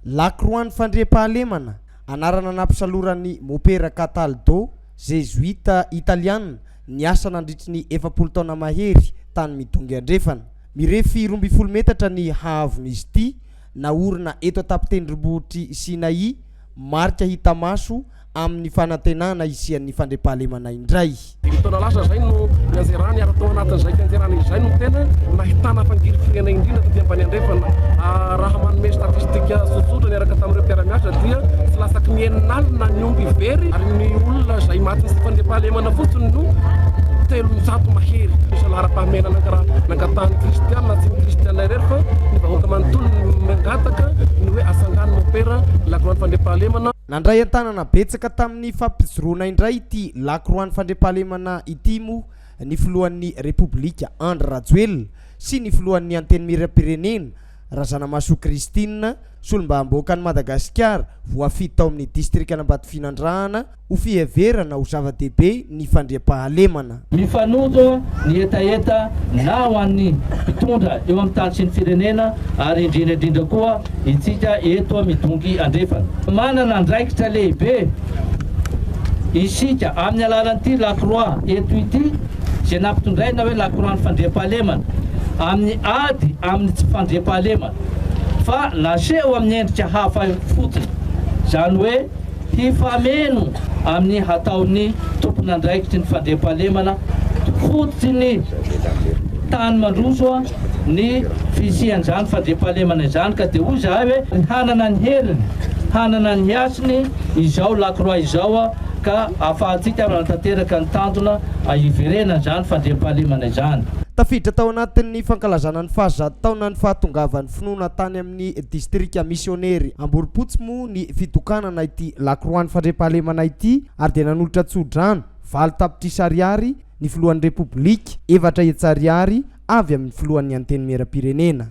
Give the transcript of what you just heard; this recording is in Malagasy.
Lakroan'ny Fandriampahalemana, anarana nampisaloran'ny Mopera Cataldo, Zezoita Italiana, niasa nandritry ny efapolo taona mahery tany Midongy Andrefana. Mirefy roa ambin'ny folo metatra ny haavon'izy ity, naorina eto an-tapon-tendrombohitr'i Sinai, marika hita maso amin'ny fanantenana hisian'ny fandriampahalemana indray. Dimy taona lasa izay no nianjerany ary tao anatin'izay fianjerana izay no tena nahitana fangirifiriana indrindra taty ambany andrefana. Raha manome statistika tsotsotra niaraka tamin'ireo mpiara-miasa dia tsy latsaky ny enina alina ny omby very ary ny olona izay matin'ny tsy fandriampahalemana fotsiny no telonjato mahery. Isa laharam-pahamehana nangatahan'ny kristiana na tsy ny kristiana irery fa ny vahoaka manontolo no mangataka ny hoe atsangano mopera la grande fandriampahalemana. Nandray an-tanana betsaka tamin'ny fampijoroana indray ity lakroan'ny fandriampahalemana ity moa ny filohan'ny Repoblika Andry Rajoelina sy ny filohan'ny Antenimierampirenena Razanamahasoa Christine, solombavambahoakan'i Madagasikara voafidy tao amin'ny distrikan'Ambatofinandrahana ho fiheverana ho zava-dehibe ny fandriampahalemana. Mifanojo ny hetaheta na ho an'ny mpitondra eo amin'ny tany sy ny firenena ary indrindra indrindra koa itsika eto Midongy Andrefana. Manana andraikitra lehibe isika amin'ny alalan'ity lakroa eto ity izay nampitondraina hoe lakroan'ny fandriampahalemana amin'ny ady amin'ny tsy fandriampahalemana fa naseho amin'ny endrika hafa fotsiny izany hoe Hifameno amin'ny hataon'ny tompon'andraikitry ny fandriampahalemana fototry ny tany mandroso ny fisian'izany fandriampahalemana izany ka dia hoy izahay hoe hanana ny heriny, hanana ny hasiny izao lakroa izao ka ahafahantsika manatanteraka ny tanjona hiverenan'izany fandriampahalemana izany. Tafiditra tao anatin'ny fankalazana ny fahazato taonan'ny fahatongavan'ny finoana tany amin'ny distrika misionery Amborompotsy moa tokoa ny fitokanana ity lakroan'ny fandriampahalemana ity ary dia nanolotra tso-drano valo tapitrisa ariary ny filohan'ny Repoblika, efatra hetsy ariary avy amin'ny filohan'ny Antenimierampirenena.